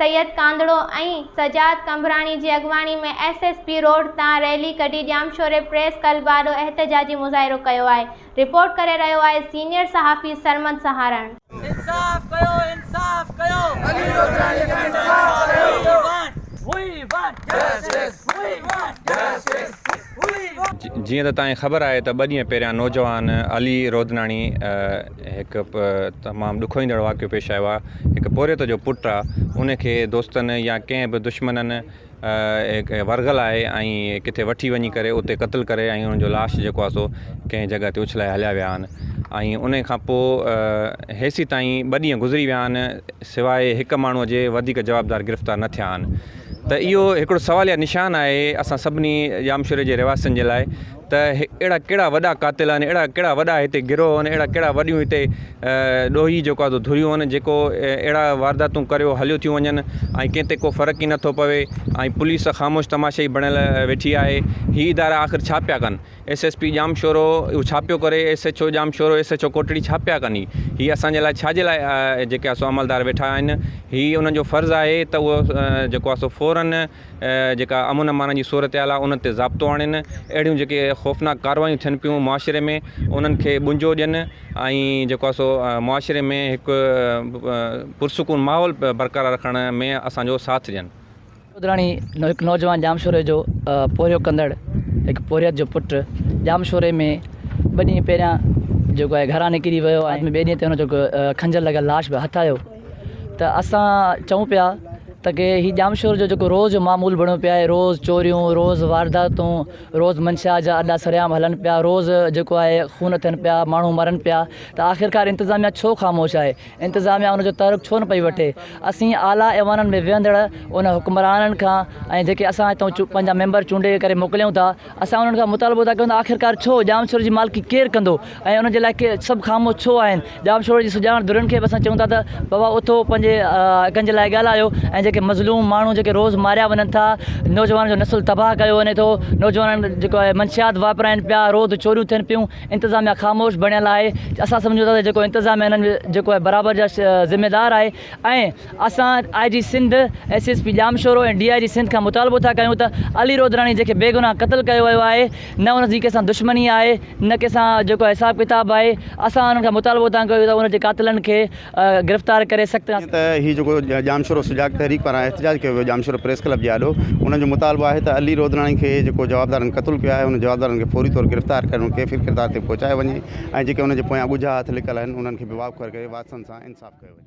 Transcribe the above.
سيد ڪانڌڙو ۽ سجاد قمبراڻي جي اڳواڻي ۾ S S P road تان ريلي ڪڍي ڄامشوري پريس ڪلب آڏو احتجاجي مظاهرو ڪيو آهي رپورٽ ڪري رهيو آهي سينيئر صحافي سرمد سهارڻ. انصاف ڪيو انصاف ڪيو علي لوڌراڻي کي انصاف ڪيو we want we want justice we want justice. هئي. جيئن ته توهان کي خبر آهي ته ٻه ڏينهن پهريان نوجوان علي رودناڻي هڪ تمام ڏکوئيندڙ واقعو پيش آيو آهي هڪ پورهيت جو پٽ آهي ان کي دوستن يا ڪنهن به دشمنن ورغل آهي ۽ ڪٿي وٺي وڃي ڪري اتي قتل ڪري ۽ ان جو لاش جيڪو آهي سو ڪنهن جڳهه تي اڇلائي هليا ويا آهن ۽ ان کان پوء هيسي تائين ٻه ڏينهن گذري ويا آهن سواء هڪ ماڻهو جي وڌيڪ جوابدار گرفتار نه ٿيا آهن ته اهو هڪڙو سواليه نشان آهي اسان سڀني ڄامشوري جي رهواسين جي لاء ته اهڙا ڪهڙا وڏا قاتل آهن اهڙا ڪهڙا وڏا هتي گروهه آهن اهڙا ڪهڙا وڏيون هتي ڏوهي جيڪو آهي ڌريون آهن جيڪو اهڙا وارداتون ڪريو هليو ٿيون وڃن ۽ ڪنهن تي ڪو فرق ئي نٿو پوي ۽ پوليس خاموش تماشائي بڻيل ويٺي آهي هي ادارا آخر ڇا پيا ڪن ايس ايس پي ڄامشورو ڇاپيو ڪري S H O Jamshoro S H O Kotri ڇاپيا ڪني هي اسان جي لاء ڇا جي لاء جيڪي اسو عملدار ويٺا آهن هي انهن جو فرض آهي ته هو جيڪو اسو فورن جيڪا امن امان جي صورتحال آهي ان تي ضابطو آڻين اهڙيون جيڪي خوفناڪ ڪاروايون ٿين پيون معاشري ۾ انهن کي ٻنجو ڏين ۽ جيڪو اسو معاشري ۾ هڪ پرسڪون ماحول برقرار رکڻ ۾ اسان جو ساٿ ڏين ڏوڌراڻي هڪ نوجوان ڄامشوري جو پورهيو ڪندڙ هڪ پورهيت جو پٽ ڄامشوري ۾ ٻه ڏينهن پهريان جيڪو آهي گهران نڪري ويو آهي ۽ ٻئي ڏينهن تي هن جو کنجر لڳل لاش به هٿ آيو ته اسان چئون پيا ته ڪي هي ڄامشور جو جيڪو روز جو معمول بڻيو پيو آهي روز چوريون روز وارداتون روز منشيات جا اڏا سرعام هلن پيا روز جيڪو آهي خون ٿين پيا ماڻهو مرن پيا ته آخرڪار انتظاميا ڇو خاموش آهي انتظاميا ان جو تحرڪ ڇو نه پئي وٺي؟ اسين اعليٰ ايوانن ۾ ويهندڙ ان حڪمرانن کان ۽ جيڪي اسان هتان پنهنجا ميمبر چونڊي ڪري موڪليون ٿا، اسان انهن کان مطالبو ٿا ڪيون ته آخرڪار ڇو ڄامشوري جي مالڪي ڪير ڪندو ۽ ان جي لاء سڀ خاموش ڇو آهن؟ ڄامشوري جي سڄاڻ ڌرين کي به اسان چئون ٿا ته بابا اٿو پنهنجي حقن جي لاء ڳالهايو ۽ جيڪي مظلوم ماڻهو جيڪي روز ماريا وڃن ٿا، نوجوانن جو نسل تباهه ڪيو وڃي ٿو، نوجوانن جيڪو آهي منشيات واپرائين پيا، روز چوريون ٿين پيون، انتظاميا خاموش بڻيل آهي اسان سمجهون ٿا ته جيڪو انتظاميا انهن جيڪو آهي برابر جا ذميدار آهي ۽ اسان I G Sindh S S P Jamshoro ۽ D I G Sindh کان مطالبو ٿا ڪيون ته علي رودراڻي جنهن کي بيگناهه قتل ڪيو ويو آهي نه ان جي ڪنهن سان دشمني آهي نه ڪنهن سان جيڪو آهي حساب ڪتاب آهي اسان انهن کان مطالبو ٿا ڪيون ته ان جي قاتلن کي گرفتار ڪري سخت. جيئن ته هي جيڪو ڄامشورو سجاڳ تحريڪ پاران احتجاج ڪيو ويو ڄامشورو پريس ڪلب جي آڏو انهن جو مطالبو آهي ته علي رودراڻي کي جيڪو جوابدارن قتل ڪيو آهي انهن جوابدارن کي فوري طور گرفتار ڪري انهن کي ڦر ڪردار تي پهچايو وڃي ۽ جيڪي انهن جي پويان ڳجها هٿ لڪل آهن انهن کي به واکوڙ ڪري واسطن سان انصاف ڪيو وڃي.